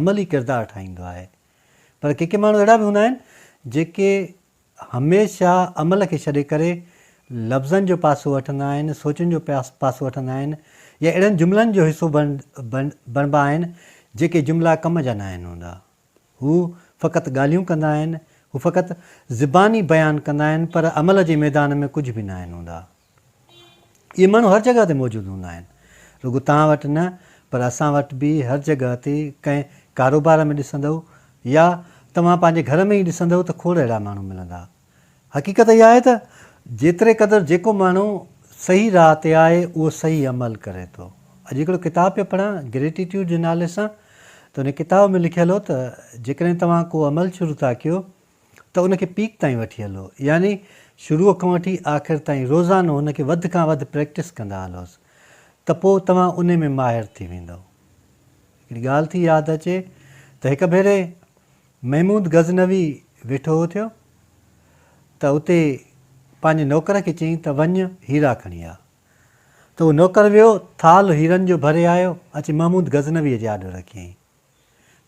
عملي ڪردار ٺاهيندو آهي پر ڪي ڪي ماڻهو اهڙا به هوندا آهن جيڪي هميشه عمل کي ڇڏي ڪري لفظن جو پاسو وٺندا آهن سوچن جو پاسو وٺندا آهن يا اهڙن جملن جو حصو بڻبا آهن جيڪي جملا ڪم جا ناهن هوندا هو فقط ڳالهيون ڪندا آهن هو فقط زباني بيان ڪندا آهن پر عمل جي ميدان ۾ ڪجهه به ناهن هوندا. اهي ماڻهو هر جڳهه تي موجود هوندا آهن. رڳو توهان وٽ نه پر اسان وٽ به هر جڳهه تي ڪنهن ڪاروبار ۾ ڏسندؤ يا توهان پنهنجي گهر ۾ ئي ڏسندؤ ته کوڙ اهڙا ماڻهو ملندا. حقيقت اها آهي ته جيتري قدر جيڪو ماڻهو صحيح راهه تي آهي اهو صحيح عمل ڪري ٿو. اڄ هڪڙو ڪتاب پيو پڙهان Gratitude جي نالي سان ته ان ڪتاب ۾ لکيل هو ته جيڪڏهن توهان ڪو عمل شروع ٿا ڪيو ته ان کي پيڪ تائين وٺي هلو يعني شروع کان وٺي آخر تائين روزانو ان کي وڌ کان وڌ پريڪٽس ڪندا هلوس ته پوء توهان انهي ۾ ماهر ٿي ويندؤ. هڪڙي ڳالهه ٿي ياد اچي ته هڪ ڀيري محمود غزنوي ويٺو هو ٿيو ته اتي پنهنجي نوڪر کي چيائين ته وڃ هيرا کڻي آ ته اهو نوڪر ويو ٿالهه هيرن جو ڀري آيو اچي محمود غزنوي جي آڏو رکيائين.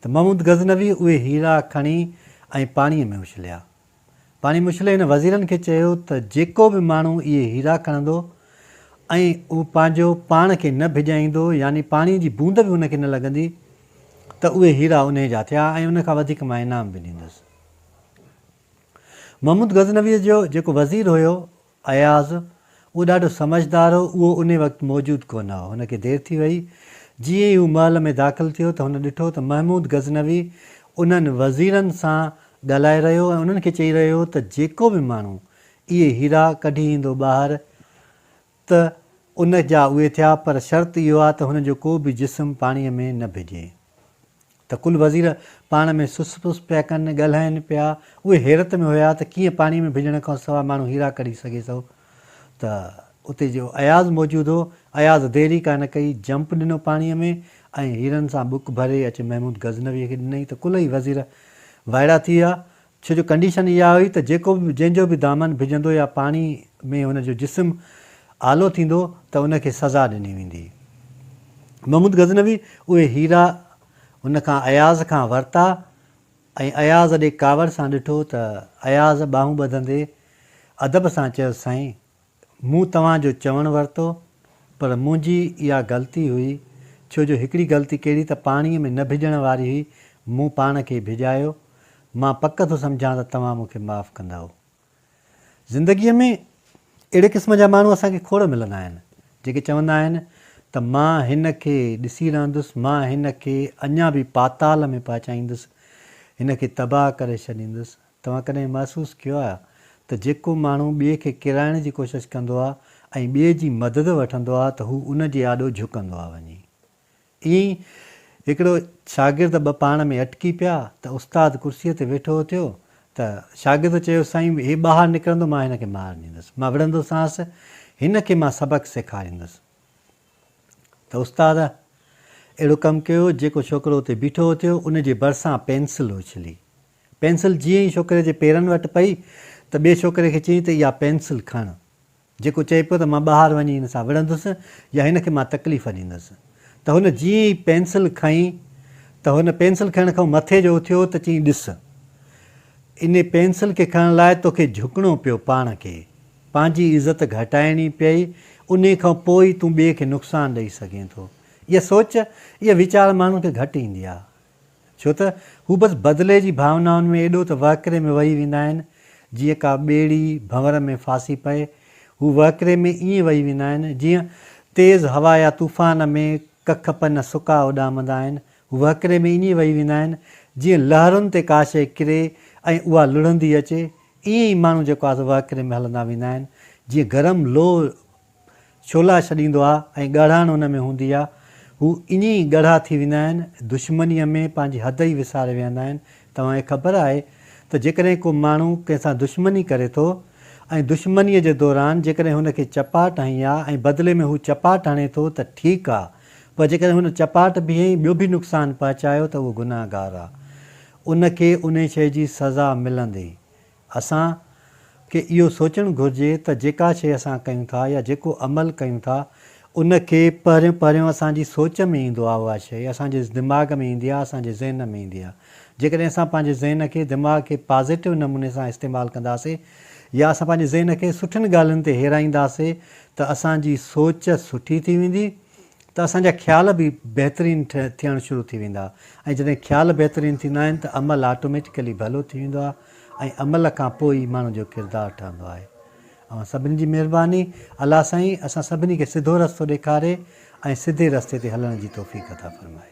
ته محمود غزنويء اهي هيرا کڻي ۽ پاڻيء ۾ اڇليا. پاڻيء ۾ اڇلي هن وزيرن کي چيو ته جيڪو به ماڻهو اهي هيرا کڻندو ۽ اهو پنهنجو پاڻ کي نه ڀڄائيندو يعني پاڻيء جي بوند به ان کي نه لڳندي ته اهي هيرا انهيء جا ٿيا ۽ ان کان وڌيڪ مان انعام به ڏيندس. محمود غزنويء جو جيڪو وزير هيو، اياز، اهو ڏاڍو سمجهدار هو، اهو انهي وقت موجود ڪونه هو. هن کي دير ٿي ويئي. جيئن ئي هو محل ۾ داخل ٿيو ته هن ڏٺو ته محمود غزنوي انهن وزيرن سان ڳالهائي رهيو ۽ انهن کي چئي رهيو هو ته جيڪو به ماڻهو اهي هيرا ڪڍي ايندو ٻاهر ته ان جا اهي ٿيا پر شرط اهو آهي ته هن جو ڪو به جسم پاڻيء ۾ نه ڀيڄي. ته ڪل وزير پاڻ ۾ سس پس پيا ڪن، ڳالهائين پيا. اهي حيرت ۾ هيا ته ڪيئن پاڻي ۾ ڀيڄڻ کان سواء ماڻهو هيرا ڪڍي سگهي ٿو. ته اتي جو اياز موجود هو، اياز دير ئي ڪانه ڪئي، جمپ ڏنو پاڻيء ۾ ۽ هيرن سان ٻڪ ڀري اچي محمود غزنويء کي ڏنائين ته ڪلهي وزير وائڙا ٿي ويا ڇو جو ڪنڊيشن اها هئي ته جيڪو به جنهن جو به دامن ڀڄندو يا پاڻي ۾ هن جو جسم آلو ٿيندو ته ان کي سزا ڏني ويندي. محمود غزنوي اهي هيرا هن کان اياز کان ورتا ۽ اياز ڏي ڪاوڙ سان ڏٺو ته اياز ٻانهون ٻڌندي ادب سان چيس سائين مون توهان جو چوڻ ورتو پر منهنجي اها غلطي هئي ڇو جو هڪڙي غلطي ڪهڙي ته پاڻي ۾ نه ڀڄڻ واري هئي مون پاڻ کي ڀڄايو مان پڪ ٿو سمجهان ته توهان مون کي معاف ڪندؤ زندگي ۾ اهڙي قسم جا ماڻهو اسان کي کوڙ ملندا آهن جيڪي چوندا آهن ته مان هن کي ڏسي رهندس مان هن کي اڃا به پاتال ۾ پهچائيندس هن کي تباهه ڪري ڇڏيندس توهان ڪڏهن محسوس ڪيو آهي ته جيڪو ماڻهو ٻئي کي ڪيرائڻ جي ڪوشش ڪندو آهي ۽ ٻئي جي مدد وٺندو آهي ته هو ان جي آڏو جهڪندو آهي وڃي ائين ئي هڪڙو شاگرد ٻه پاڻ ۾ اٽڪي پيا ته استاد ڪرسيء تي ويٺو اٿيو ته شاگرد چيو سائين هي ٻاهر نڪرندو مان هن کي مار ڏيندس مان وڙهندوسانس هن کي مان سبق سيکاريندس ته استاد اهڙو ڪم ڪيو جيڪو ڇوڪرو اتي بيٺو اٿيو ان جي ڀرسان پينسل اڇلي پينسل جيئن ئي ڇوڪري جي پيرن وٽ پئي ته ٻئي ڇوڪري کي چيائين ته اها پينسل کڻ، جيڪو چئي پيو ته مان ٻاهر وڃي هن سان وڙهندس يا هن کي مان تڪليف ڏيندس ته هن جيئن ئي پينسل کنئي ته هن پينسل کنئڻ کان مٿي جو اٿيو ته چيائين ڏس ان پينسل کي کڻڻ لاء توکي جهڪڻو پيو پاڻ کي پنهنجي عزت گهٽائڻي پئي انهي کان پوء ئي تون ٻئي کي نقصان ڏئي سگهين ٿو اها سوچ اها ويچار ماڻهن کي گهٽ ايندي آهي ڇو ته هو بس بدلي جي ڀاونائن ۾ ايڏو ته وهڪري ۾ وهي ويندا آهن، جيئن ڪا ٻيڙي ڀنور ۾ ڦاسي پئي. هو وهڪري ۾ ائين وهي ويندا آهن، جيئن تيز هوا يا طوفان ۾ ڪک پن سڪا اڏامندا آهن. هو وهڪري ۾ ائين وهي ويندا آهن، جيئن لهرن تي ڪا شيء ڪري ۽ اها لڙهندي اچي. ائين ئي ماڻهو جيڪو آهي سو وهڪري ۾ هلندا ويندا آهن، جيئن گرم لوهه شعلا ڇڏيندو آ ۽ ڳاڙهاڻ ان ۾ هوندي آ. هو ائين ئي ڳاڙها ٿي ويندا آهن، دشمنيء ۾ پنهنجي حد ئي وساري ويهندا آهن. توهان کي خبر آهي ته جيڪڏهن ڪو ماڻهو ڪنهن سان دشمني ڪري ٿو ۽ دشمنيء جي دوران جيڪڏهن هن کي چپاٽ هنئي آ ۽ بدلي ۾ هو چپاٽ هڻي ٿو ته ٺيڪ آ پر جيڪڏهن هن چپاٽ به هنئي ٻيو به نقصان پهچايو ته اهو گناهگار آ. ان کي انهي شيء جي سزا ملندي. اسان کي اهو سوچڻ گهرجي ته جيڪا شيء اسان ڪيون ٿا يا جيڪو عمل ڪيون ٿا ان کي پهريون پهريون اسان جي سوچ ۾ ايندو آهي اها شيء اسان جي دماغ ۾ ايندي آهي اسان جي ذهن ۾ ايندي آهي جيڪڏهن اسان پنهنجي ذهن کي دماغ کي پازيٽو نموني سان استعمال ڪنداسين يا اسان پنهنجي ذهن کي سٺين ڳالهين تي هيرائينداسين ته اسان جي سوچ سٺي ٿي ويندي ته اسان جا خيال به بهترين ٿيڻ شروع ٿي ويندا ۽ جڏهن خيال بهترين ٿيندا آهن ته عمل آٽوميٽڪلي ڀلو ٿي ويندو آهي ۽ عمل کان پوء ئي ماڻهو جو ڪردار ٺهندو آهي. اوهان سڀني جي مهرباني. الله سائين اسان سڀني کي سڌو رستو ڏيکاري ۽ سڌي رستي تي هلڻ جي توفيق عطا فرمائي.